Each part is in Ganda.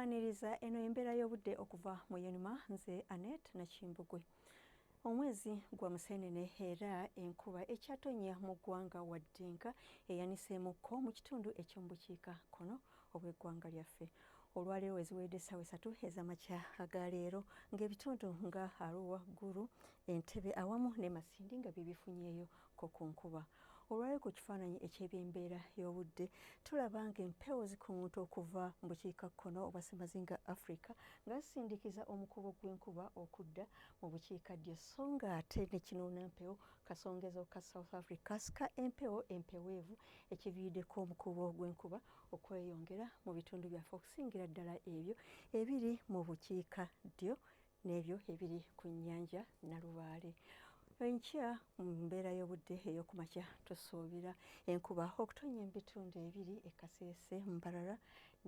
Kwaniriza eno embeera y'obudde okuva mu yenuma nze Anet Nakimbugwe. Omwezi gwa Museenene era enkuba ekyatonnya mu ggwanga Waddenka eyaniseemukko mu kitundu eky'omubukiika kkono obw'eggwanga lyaffe. Olwaleero weziweedde essaawa esatu ez'amakya aga leero ng'ebitundu nga Arua, Gulu, Entebbe awamu ne Masindi nga bye bifunyeeyo ko ku nkuba olwali ku kifaananyi eky'ebyembeera y'obudde tulaba nga empewo zikunguta okuva mu bukiikakkono obwa ssemazinga africa nga zisindikiza omukubo gw'enkuba okudda mu bukiikaddyo so nga ate ne kinuuna mpewo kasongezo ka south africa sika empewo empeweevu ekiviiriddeko omukubo gw'enkuba okweyongera mu bitundu byaffe okusingira ddala ebyo ebiri mu bukiika ddyo n'ebyo ebiri ku nnyanja Nalubaale. Enkya mu mbeera y'obudde ey'okumakya tusuubira enkuba okutonnya mu bitundu ebiri e Kasese, Mbarara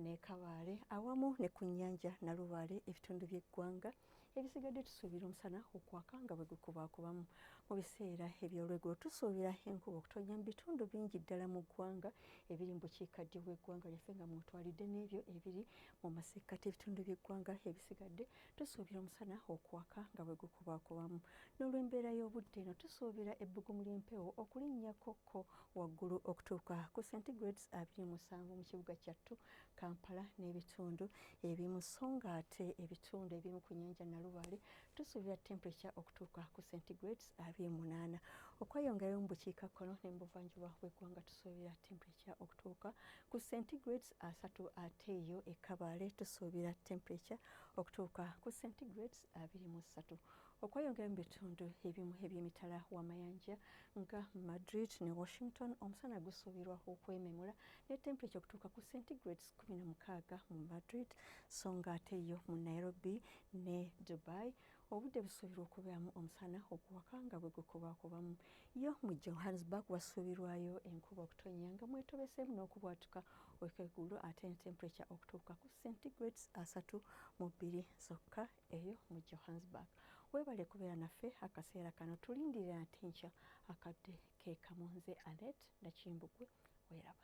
ne Kabale awamu ne ku nnyanja Nalubaale ebitundu by'eggwanga ebisigadde tusuubira omusana okwaka nga bwe gukubaakubamu mu biseera eby'olweggulo tusuubira enkuba okutonnya mu bitundu bingi ddala mu ggwanga ebiri mu bukiikaddyo bw'eggwanga lyaffe nga mwotwalidde n'ebyo ebiri Mu masekkati ebitundu by'eggwanga ebisigadde tusuubira omusana okwaka nga bwe gukubakubamu. N'olw'embeera y'obudde eno tusuubira ebbugumu ly'empewo okulinnyako ko waggulu okutuuka ku centigrades abiri musanvu mu kibuga kyattu Kampala n'ebitundu ebimu so ng'ate ebitundu ebimu ku nnyanja Nalubaale tusuubira temperature okutuuka ku centigrades abiri munaana. Okweyongerayo mu bukiikakkono ne mu buvanjuba bw'eggwanga tusuubira temperature okutuuka ku centigrades asatu ate eyo e Kabale tusuubira temperature okutuuka ku centigrades abiri mu ssatu okweyongera mu bitundu ebimu eby'emitala w'amayanja nga Madrid ne Washington omusana gusuubirwa okwememula ne temperature okutuuka ku centigrades kumi na mukaaga mu Madrid so nga ate yo mu Nairobi ne Dubai Obudde busuubirwa okubeeramu omusana okuwaka nga bwe gukubaakubamu yo mu Johannesburg wasuubirwayo enkuba okutonnya nga mwetobeseemu n'okubwatuka okw'eggulo ate ne temperature okutuuka ku centigrades asatu mu bbiri zokka eyo mu Johannesburg. Weebale kubeera naffe akaseera kano tulindirira ate nkya akadde ke kamu nze Anet Nakimbugwe weeraba.